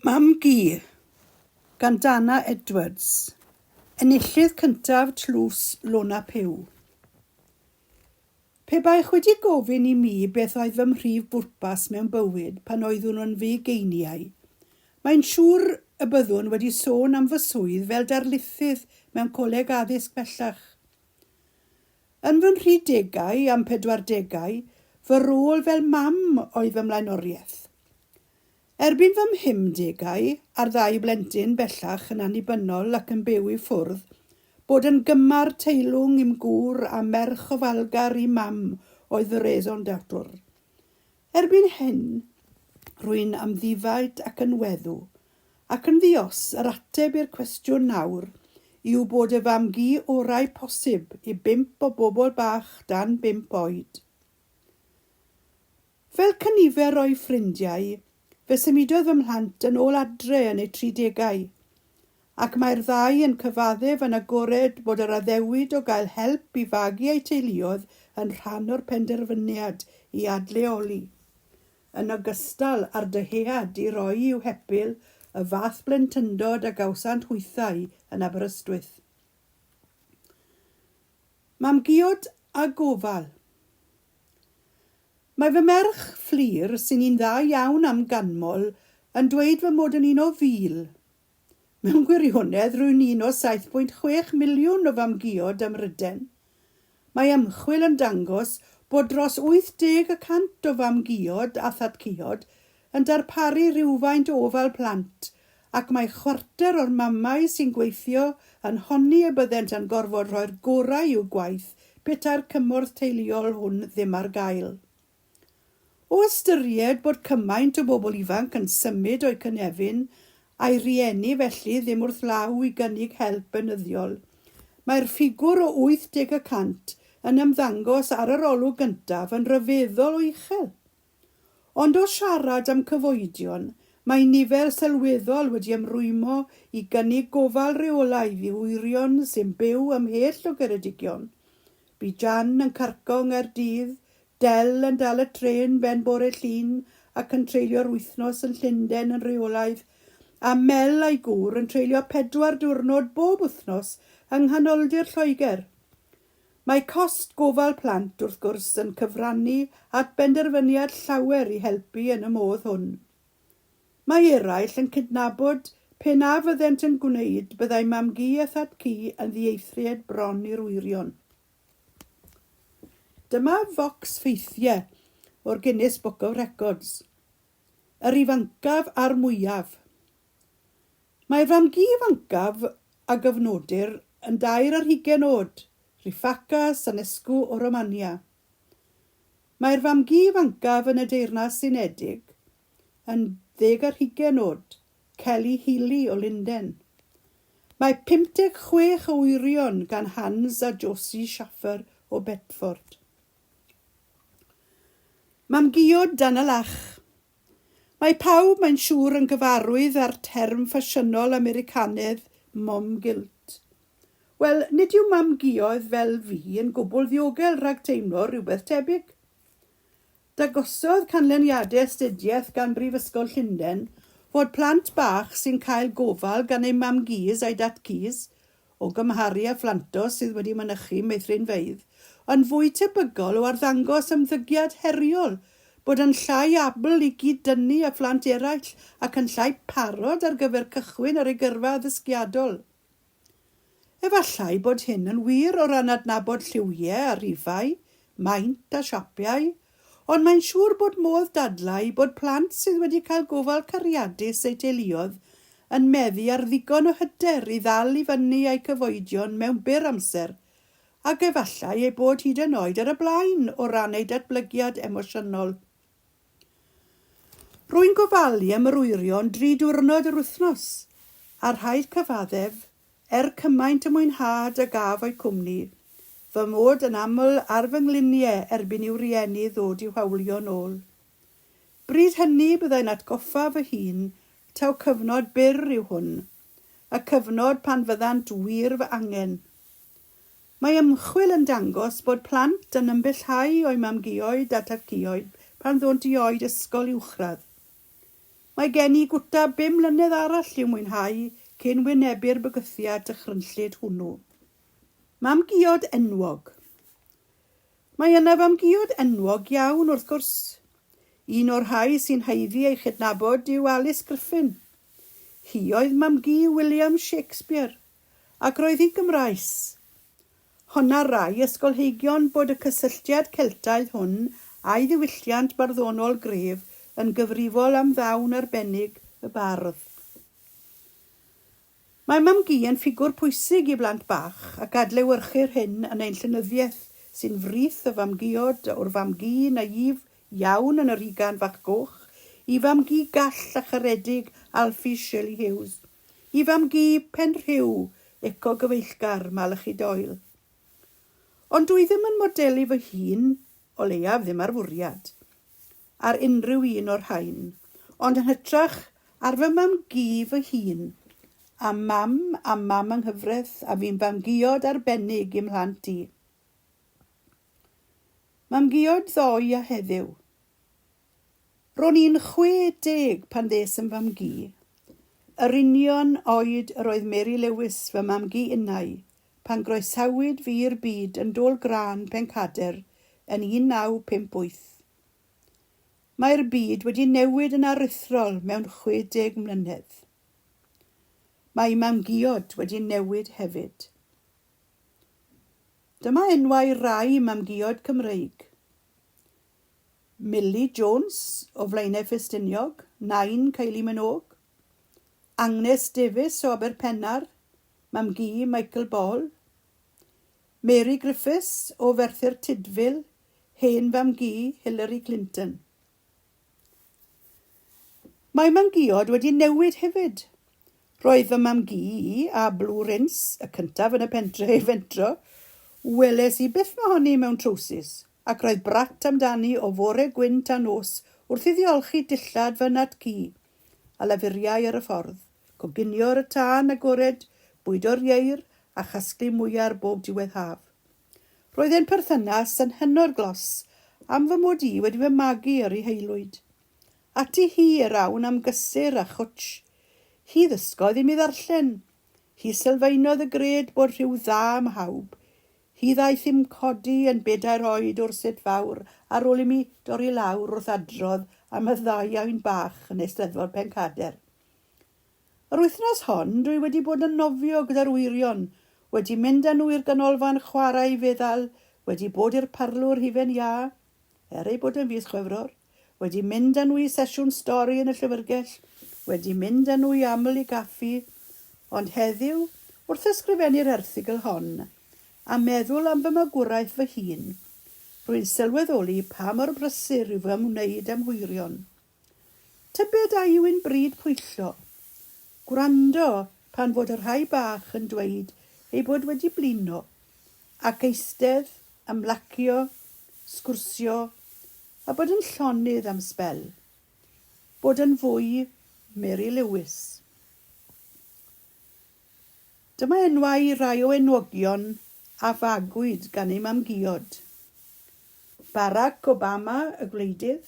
Mam-gu, gan Dana Edwards, enillydd cyntaf Tlws Lona Puw. Pe baech wedi gofyn i mi beth oedd fy mhrif bwrpas mewn bywyd pan oeddwn yn fugeiniau, mae'n siŵr y byddwn wedi sôn am fy swydd fel darlithydd mewn coleg addysg bellach. Yn fy nhri degau a'm pedwar degau, fy rôl fel mam oedd fy mlaenoriaeth. Erbyn fy mhumdegau, a'r ddau blentyn bellach yn annibynnol ac yn byw i ffwrdd, bod yn gymar teilwng i'm gŵr a merch ofalgar i'm mam oedd fy raison d'etre. Erbyn hyn, rwy'n amddifad ac yn weddw. Ac yn ddi-os, yr ateb i'r cwestiwn nawr yw bod y fam-gu orau posib i bump o bobl bach dan bump oed. Fel cynifer o'i ffrindiau, fe symudodd fy mhlant yn ôl adre yn eu tridegau, ac mae'r ddau yn cyfaddef yn agored bod yr addewid o gael help i fagu eu teuluoedd yn rhan o'r penderfyniad i adleoli, yn ogystal â'r dyhead i roi i'w hepil y fath blentyndod a gawsant hwythau yn Aberystwyth. Mam Giod a Gofal. Mae fy merch, Fflur, sy'n un dda iawn am ganmol, yn dweud fy mod yn un o fil. Mewn gwirionedd, rwy'n un o 7.6 miliwn o famguod ym Mhryden. Mae ymchwil yn dangos bod dros 80 y cant o famguod a thatguod yn darparu rhywfaint o ofal plant, ac mae chwarter o'r mamau sy'n gweithio yn honni y byddent yn gorfod rhoi'r gorau i'w gwaith petai'r cymorth teuluol hwn ddim ar gael. O ystyried bod cymaint o bobl ifanc yn symud o'u cynefin a'i rieni felly ddim wrth law i gynnig help beunyddiol, mae'r ffigwr o 80 y cant yn ymddangos ar yr olwg gyntaf yn ryfeddol o uchel. Ond o siarad am cyfoedion, mae nifer sylweddol wedi ymrwymo i gynnig gofal rheolaidd i wyrion sy'n byw ymhell o Geredigion. Bu Jan yn carco yng Nghaerdydd, Del yn dal y trên ben bore Llun ac yn treulio'r wythnos yn Llundain yn rheolaidd, a Mel a'i gŵr yn treulio pedwar diwrnod bob wythnos yng nghanoldir Lloegr. Mae cost gofal plant, wrth gwrs, yn cyfrannu at benderfyniad llawer i helpu yn y modd hwn. Mae eraill yn cydnabod pe na fyddent yn gwneud byddai mam-gu a thad-cu yn ddieithriad bron i'r wyrion. Dyma focs ffeithiau o'r Guinness Book of Records. Yr ifancaf a'r mwyaf. Mae fam gi ifancaf a gofnodir yn dair ar hugain oed, Rifaka Sanescu o Romania. Mae'r fam gi ifancaf yn y Deyrnas Unedig yn ddeg ar hugain oed, Kelly Healy o Lunden. Mae 56 o wyrion gan Hans a Josie Schaffer o Bedford. Mam-gu-iod Dan y Lach Mae pawb, mae'n siŵr, yn gyfarwydd â'r term ffasiynol Americanedd 'mom guilt'. Wel, nid yw mam-guoedd fel fi yn gwbl ddiogel rhag teimlo rhywbeth tebyg. Dagosodd canlyniadau astudiaeth gan Brifysgol Llundain fod plant bach sy'n cael gofal gan eu mam-gys a'u dat-gys o gymharu â phlantos sydd wedi mynychu meithrinfeydd, yn fwy tebygol o arddangos ymddygiad heriol, bod yn llai abl i gyd-dynnu â phlant eraill ac yn llai parod ar gyfer cychwyn ar ei gyrfa addysgiadol. Efallai bod hyn yn wir o ran adnabod lliwiau a rifau, maint a siapiau, Ond mae'n siŵr bod modd dadlau bod plant sydd wedi cael gofal cariadus eu teuluoedd yn meddu ar ddigon o hyder i ddal i fyny â'u cyfoedion mewn byr amser, ac efallai eu bod hyd yn oed ar y blaen o ran eu datblygiad emosiynol. Rwy'n gofalu am yr wyrion dri diwrnod yr wythnos, a rhaid cyfaddef, Er cymaint y mwynhad a gaf o'u cwmni, fy mod yn aml ar fy nglunie erbyn i'w rieni ddod i'w hawlio'n ôl. Bryd hynny byddai'n atgoffa fy hun taw cyfnod byr yw hwn, y cyfnod pan fyddant wir fy angen. Mae ymchwil yn dangos bod plant yn ymbellhau o'u mam-guoed a tad-cuoed pan ddônt i oed ysgol uwchradd. Mae gen i gwta bum mlynedd arall i'w mwynhau cyn wynebu'r bygythiad dychrynllyd hwnnw. Mam giod enwog. Mae yna fam giod enwog iawn, wrth gwrs. Un o'r rhai sy'n haeddu ei chydnabod yw Alys Griffin. Hi oedd mam-gu William Shakespeare, ac roedd hi'n Gymraes. Honna'r rai ysgolheigion bod y cysylltiad Celtaidd hwn â'i ddiwylliant barddonol gref yn gyfrifol am ddawn arbennig y bardd. Mae mam-gu yn ffigwr pwysig i blant bach, ac adlewyrchir hyn yn ein llenyddiaeth sy'n frith o fam-guod, o'r fam-gu naïf iawn yn Yr Hugan Fach Goch i fam-gu gall a charedig Alfie Shirley Hughes. i fam-gu Penrhiw, eco-gyfeillgar, Malachi Doyle. Ond dwi ddim yn modelu fy hun, o leiaf ddim ar fwriad, ar unrhyw un o'r rhain, ond yn hytrach ar fy mam-gu fy hun, a mam a mam anghyfreth a fu'n fam-guod arbennig i'm mhlant i. Mam-guod ddoe a heddiw. Ro'n i'n 60 pan ddes yn fam-gu. Yr union oed yr oedd Mary Lewis, fy mam-gu innau, pan groesawyd fi i'r byd yn Dôl Grân, Pencader, yn 1958. Mae'r byd wedi newid yn aruthrol mewn 60 mlynedd. Mae mam-guod wedi newid hefyd. Dyma enwau rai mam-guod Cymreig. Milly Jones o Flaenau Ffestiniog, nain Kylie Minogue, Angnes Davies o Aberpennar, mam-gu Michael Ball, Mary Griffiths o Ferthyr Tudful, hen fam-gu Hillary Clinton. Mae mam-guod wedi newid hefyd. Roedd fy mam-gu i, a Blue Rinse, y cyntaf yn y pentre i fentro. Weles i byth mohoni mewn trowsus, ac roedd brat amdani o fore gwyn tan nos wrth iddi olchi dillad fy nhat-gu, a lafuriai ar y ffordd, coginio ar y tân agored, bwydo'r ieir, a chasglu mwyar bob diwedd haf. Roedd ein perthynas yn hynod glos am fy mod i wedi fy magu ar ei haelwyd. Ati hi yr awn am gysur a chwtsh. Hi ddysgodd i mi ddarllen. Hi sylfaenodd y gred bod rhyw dda ym mhawb. Hi ddaeth i'm codi yn bedair oed o'r set fawr ar ôl i mi dorri lawr wrth adrodd am y ddau ain bach yn Eisteddfod Pencader. Yr wythnos hon dwi wedi bod yn nofio gyda'r wyrion, wedi mynd â nhw i'r ganolfan chwarae i feddal, wedi bod i'r parlwr hufen iâ, Er ei bod e'n fis Chwefror, wedi mynd â nhw i sesiwn stori yn y Llyfrgell, wedi mynd â nhw i aml i gaffi, ond heddiw, wrth ysgrifennu'r erthygl hon, a meddwl am fy magwraeth fy hun, rwy'n sylweddoli pa mor brysur yw fy ymwneud â'm hwyrion. Tybed a yw'n bryd pwyllo? Gwrando pan fod y rhai bach yn dweud eu bod wedi blino, ac eistedd, ymlacio, sgwrsio, a bod yn llonydd am sbel. Bod yn fwy Mary Lewis. Dyma enwau rhai o enwogion a fagwyd gan ei mam-giod. Barack Obama y gwleidydd,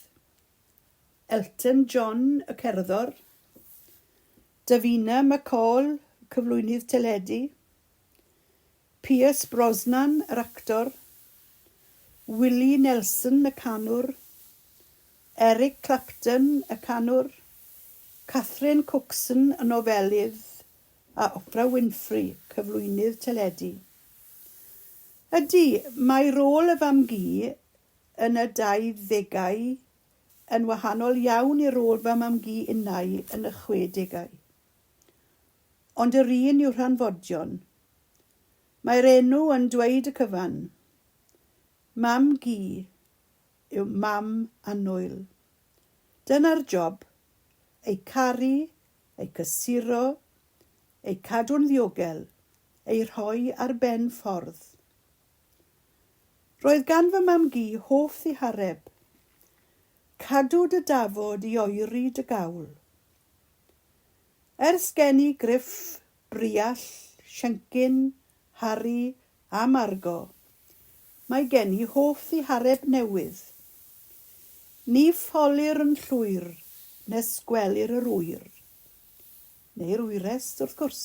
Elton John y cerddor, Davina McCall y cyflwynydd teledu, Pierce Brosnan yr actor, Willie Nelson y canwr, Eric Clapton y canwr, Catherine Cookson y nofelydd a Oprah Winfrey, cyflwynydd teledu. Ydy, mae rôl y fam-gu yn y dauddegau, yn wahanol iawn i rôl fy mam-gu innau yn y chwedegau. Ond yr un yw Rhanfodion. Mae'r enw yn dweud y cyfan. Mam-gu yw mam annwyl. Dyna'r job, eu caru, eu cysuro, eu cadw'n ddiogel, eu rhoi ar ben ffordd. Roedd gan fy mam-gu hoff ddihareb. Cadw dy dafod i oeri dy gawl. Ers gen i Griff, Briall, Siencyn, Harri a Margo, mae gen i hoff ddihareb newydd. Ni ffolir yn llwyr nes gwelir yr ŵyr. Neu'r wyres, wrth gwrs.